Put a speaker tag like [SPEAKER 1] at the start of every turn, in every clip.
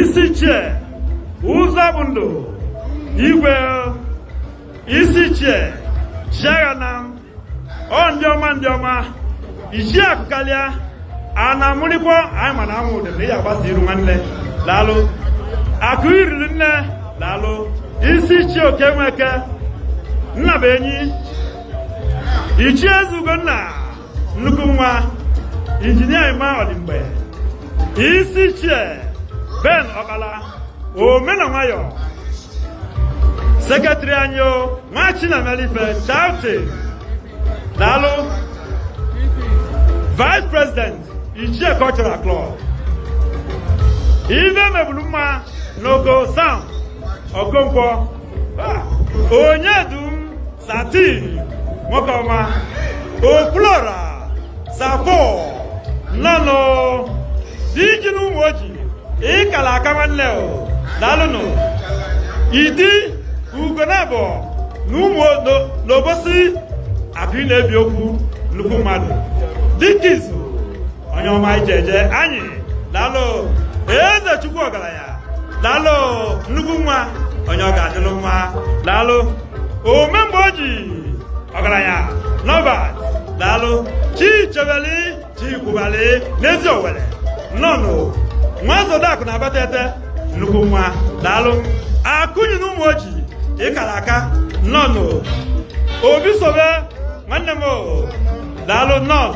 [SPEAKER 1] isi ichie ụzọ bụ ndụ igwe isi ichie chiaghanam ọ ndị ọma ndị ọma ichie akụ kalịa a na-amụrịkwa anyị ma na amụ ụdị na ị agbasa iru nwanne laalụ akụ iriri nne laalụ isi ichie okey nweke nna bụ enyi ichie eze ugonna nnukwu nwa injinia Emma Odimgbe isi ichie Ben Ọkpala ome na nwayọ sekretịrị anyị o nwa Chinamelife Charity daalụ vice president ichie cultural club ife mebulu mma n'oko sam okonkwo onyedum satin nwoke ọma okwuluọra sapo nnọnụ diji na ụmụoji ị kala aka nwanne o daalụnụ idi ugonabọ na ụmụ n'obosi akụ na-ebi okwu nnukwu mmadụ dike izu onye ọma ije eje anyị daalụ eze chukwu ọgalanya daalụ nnukwu nwa onye ọ ga-adịlụ mma daalụ ome mgbe o ji ọgaranya norbert daalụ chichebeli chikwubali n'eziowelle nnọnụ nwa zodakụ na abatete nnukwu nwa daalụ akụnyi na ụmụoji ị kala aka nnọnụ obi sobe nwanne m daalụ nnọọ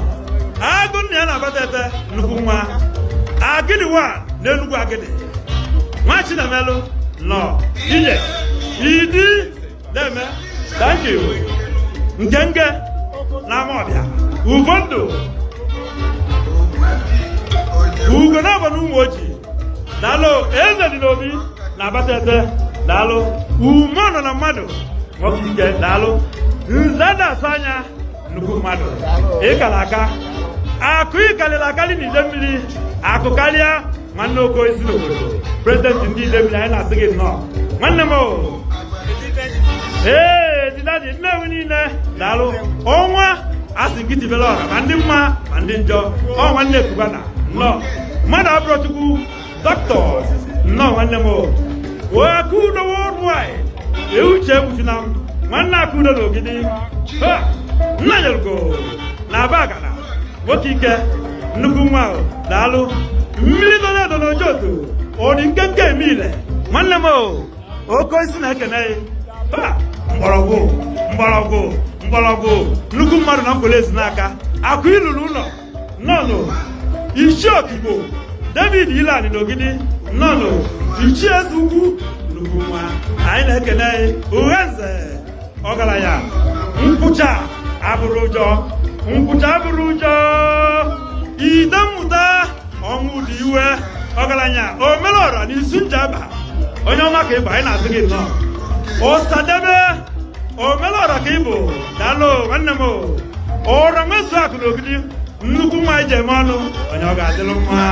[SPEAKER 1] agụ nna ya na abatete nnukwu nwa agịdịwa na enugwu agịdị nwa chinamelụ nnọọ ije idi deeme thank you ngenge na amaọbịa ufondu ugonabọ na ụmụoji daalụ eze dị n'obi na abatete daalụ ume nọ na mmadụ nwoke ike daalụ nze na-asa anya nnukwu mmadụ ị kala aka akụ ị kalịlị akalị na idemili akụ kalịa nwanne oko isi n'obodo prezidenti ndị idemili anyị na-asị gị nnọọ nwanne m o ee didadi nnewi niine daalụ ọnwa asị gị tibelụ ọra ma ndị mma ma ndị njọ ọ nwanne cubana nnọọ mmadụ abụrọ chukwu Doctors, nnọọ nwanne m o Akudo worldwide ee Uche Egbuchunam nwanna Akudo na Ogidi Nnanyelugo na Abagana nwoke ike nnukwu nwa daalụ mmili nọ na-edo n'Ojoto ọ dị nkenke eme ile nwanne m o oke osisi na-ekene mgbọrọgwụ mgbọrọgwụ mgbọrọgwụ nnukwu mmadụ na Nkpor ezi n'aka akụ ilulu ụnọ nnọnụ ichie okigbo david ilani n'ogidi nnọnụ ichie eze ugwu nnukwu nwa anyị na-ekene uhenze ọgalanya nkwụcha abụrọ ụjọ nkwụcha abụrọ ụjọ ide mmụta ọnwụ dị iwe ọgalanya omelọra na isu njaba onye ọma ka ị bụ anyị na-asị gị nnọọ osadebe omelọra ka ị bụ daalụ nwanne m ọra nwezu akụ na ogidi nnukwu nwa e ji eme ọnụ onye ọ ga-adịlụ mma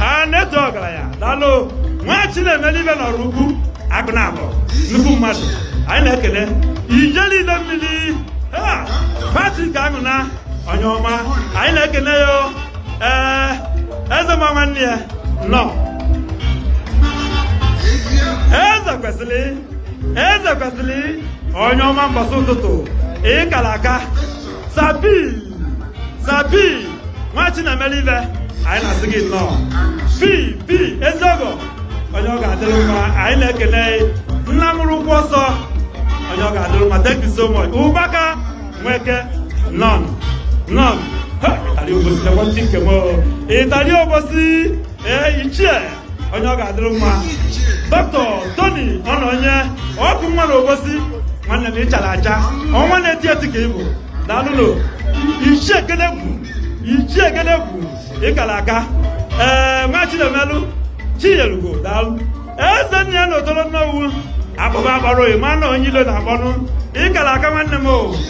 [SPEAKER 1] a na-eto ọgalanya daalụ nwa chinemelụ ibe n'ọraukwu akụ naabọ nnukwu mmadụ anyị na-ekele ijele idemmili patrick anuna onye ọma anyị na-ekele ya o eze ma nwanne ya nnọọ eze kwesili eze kwesili onye ọma mbọsị ụtụtụ ịkala aka sabi sabi nwa chinemelụ ife anyị na-asị gị nnọọ pi pi ezeọgọ onye ọ ga-adịlụ mma anyị na-ekene nna mụrụ ụkwụ ọsọ onye ọ ga-adịlụ mma thank you so much ụbaka nweke nnọnụ nnọnụ ịtali obosi na nwanne nke m ịtali obosi ee ichie onye ọ ga-adịrị mma dọkịta toni ọnọnye ọkụ nwa na obosi nwanne m ịchala acha ọnwa na-eti eti ka ị bụ daalụnụ ichie ekene bụ ichie ekene bụ ịkala aka ee nwa chinemelụ chiyelugo daalụ ezennịa na otolo nnewi akpọba akpọrọ ị ma na onye ilo na-akpọnụ ịkala aka nwanne m o